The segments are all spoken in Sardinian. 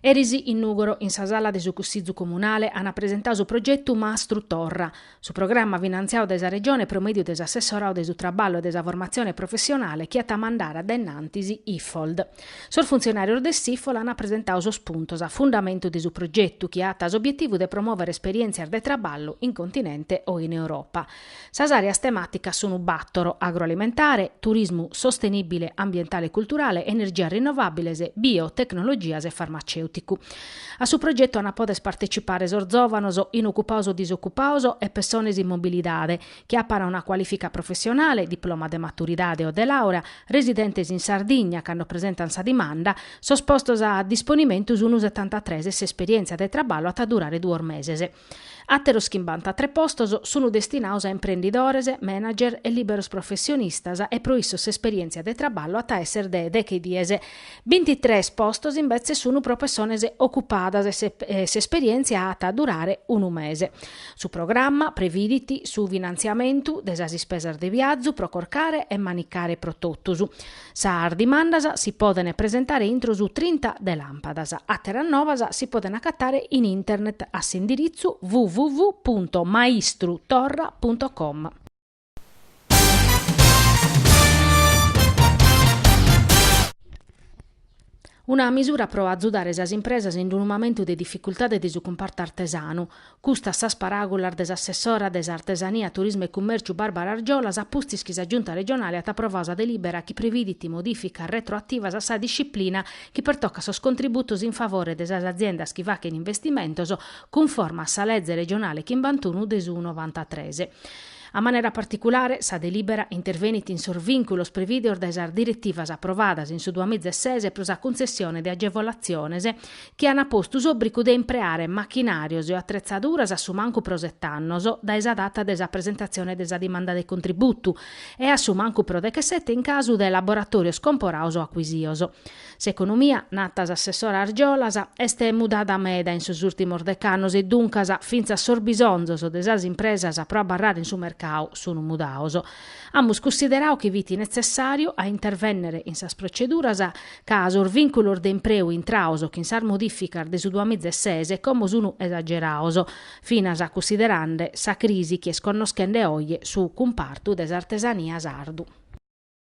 Eris in Nùgoro, in sa sala de su Cussizu Comunale, ant presentau su progetu Mastru Torra. Su programma finantziau dae sa Regione pro mèdiu de s'Assessorau de su Traballu e de sa Formatzione Professionale chi at a mandare dae innantis Ifold. Sos funtzionàrios de s'Ifold ant presentau sos puntos a fundamentu de su progetu chi at s'obietivu de promòvere esperièntzias de traballu in continente o in Europa. Sas àreas temàticas sunu bàtoro, agroalimentare, turismu sostenìbile ambientale e culturale, energias rinnovàbiles, biotecnologias e farmacèuticu. A su progetu ant a poder partecipare sos zòvanos, inocupaos o disocupaos, e pessones in mobilidade, chi apant una cualìfica professionale, diploma de maturidade o de làurea, residentes in Sardigna, cando presentant sa dimanda, sos postos a disponimentu sunu setantatres e s'esperièntzia de traballu at a durare duos meses. Àteros chimbantatres postos sunu destinaos a imprendidores, manager e lìberos professionistas e pro issos s'esperièntzia de traballu at a èssere de deche dies. Bintitres postos imbetzes sun pro pessones ocupadas e s'esperièntzia at a durare unu mese. Su programma previdit su finantziamentu de sas ispesas de viazu pro corcare e manicare pro totus. Sas dimandas si podent presentare intro su trinta de làmpadas. Àteras novas si podent acatare in internet a s'indiritzu www punto maistru torra punto com. Una misura pro azudare sas impresas in unu mamentu de dificultade de su cumpartu artesanu. Custas sas paràgulas de s'assessora de s'Artesania, Turismu e Cummèrciu Barbara Argiolas a pustis chi sa Giunta regionale at aprovau sa delìbera chi previdit modìficas retroativas a sa disciplina chi pertocat sos contributos in favore de sas aziendas chi fachent investimentos cunforma a sa leze regionale chimbantunu de su novantatres. A manera particulare, sa delibera intervenit in sos vìnculos prevìdeos dae sas diretivas aprovadas in su duamiza e ses pro sa cuntzessione de agevolatziones chi an postu s'òbrigu de impreare machinàrios e o atretzaduras a su mancu pro sete annos dae sa data de sa presentatzione de sa dimanda de contributu e a su mancu pro dechesete in casu de laboratòrios comporaos o acuisios. S'economia, nata s'assessora Argiolas, est mudada meda in sos ùrtimos dec'annos e duncas fintzas sos bisonzos de sas impresas pro abarrare in su mercadu sun mudaos. Amus cussiderau chi fit netzessàriu a intervènnere in sas proceduras ca sos vìnculos de impreu intraos chin sas modìficas de su duamiza e ses como sun esageraos, finas cussiderande sa crisi chi est connoschende oje su cumpartu de s'artesania sardu.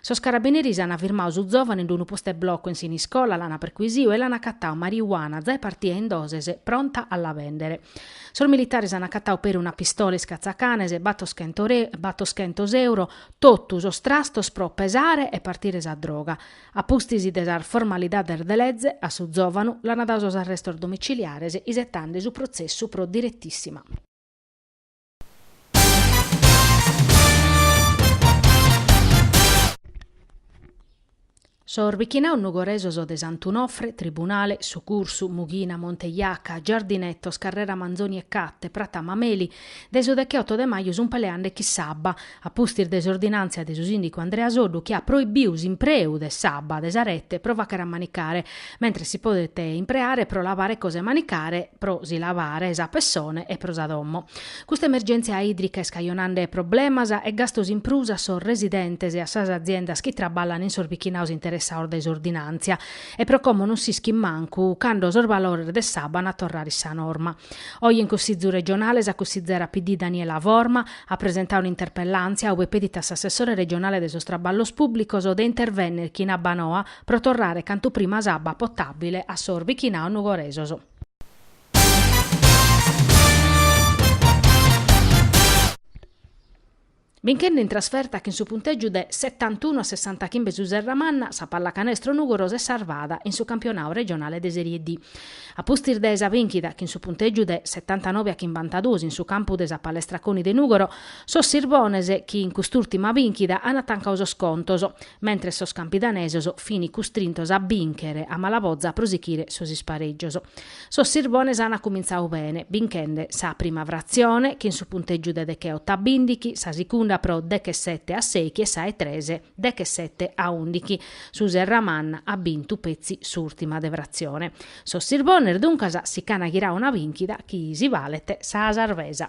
Sos carabineris an firmau su zòvane in unu postu 'e bloco in Siniscola, l'an percuisiu e l'an acatau mariuana, zae partia in doses, pronta a la bèndere. Sos militares an acatau peri una pistola iscatzacanes, batos chentos re, batos chentos euro, totu sos trastos pro pesare e partire sa droga. A pustis de sas formalidades de leze, a su zòvanu l'an dau sos arrestos domiciliares isetande su protzessu pro diretissima. Sos bichinaos nugoresos de Sant'Unofre, Tribunale, Su Cursu, Mughina, Monte Jaca, Giardinetos, Carrera Manzoni e Catte, Prata Mameli, de su decheoto de maju sunt peleande chin s'abba, a pustis de s'ordinàntzia de su sìndicu Andrea Soddu chi at proibiu s'impreu de s'abba de sa rete pro fàcher a manicare, mentres si podet impreare pro lavare cosa 'e manicare, pro si lavare sa pessone e pro sa domo. Custa emergèntzia ìdrica est cajonande problemas e gastos in prus a sos residentes e a sas aziendas chi traballan in sos bichinaos interessaos dae s'ordinàntzia e pro como non s'ischit mancu cando sos valores de s'abba an a torrare in sa norma. Oje in Cussizu Regionale sa cussizera PD Daniela Forma, at presentau un'interpellàntzia ue pedit a s'assessore regionale de sos traballos pùblicos de intervènnere chin Abbanoa pro torrare cantu prima s'abba potàbile a sos bichinaos nugoresos. Binchende in trasferta chin su puntègiu de setantunu a sessantachimbe su Serramanna, sa pallacanestro Nùgoro s'est sarvada in su campionau regionale de Serie D. A pustis de sa bìnchida chin su puntègiu de setantanobe a chimbantaduos in su campu de sa Palestra Coni de Nùgoro, sos sirbones chin cust'ùrtima bìnchida ant tancau sos contos, mentres sos campidanesos fin custrintos a bìnchere a mala boza pro sichire sos isparègios. Sos sirbones ant cumintzau bene, binchende sa prima fratzione chin su puntègiu de decheoto a bìndighi, sa sicunda pro dechesete a sèighi e sa 'e tres dechesete a ùndighi. Su Serramanna at bintu petzi s'ùrtima de fratzione. Sos Sirbones duncas si ch'an ghirau una bìnchida chi si balet sa sarvesa.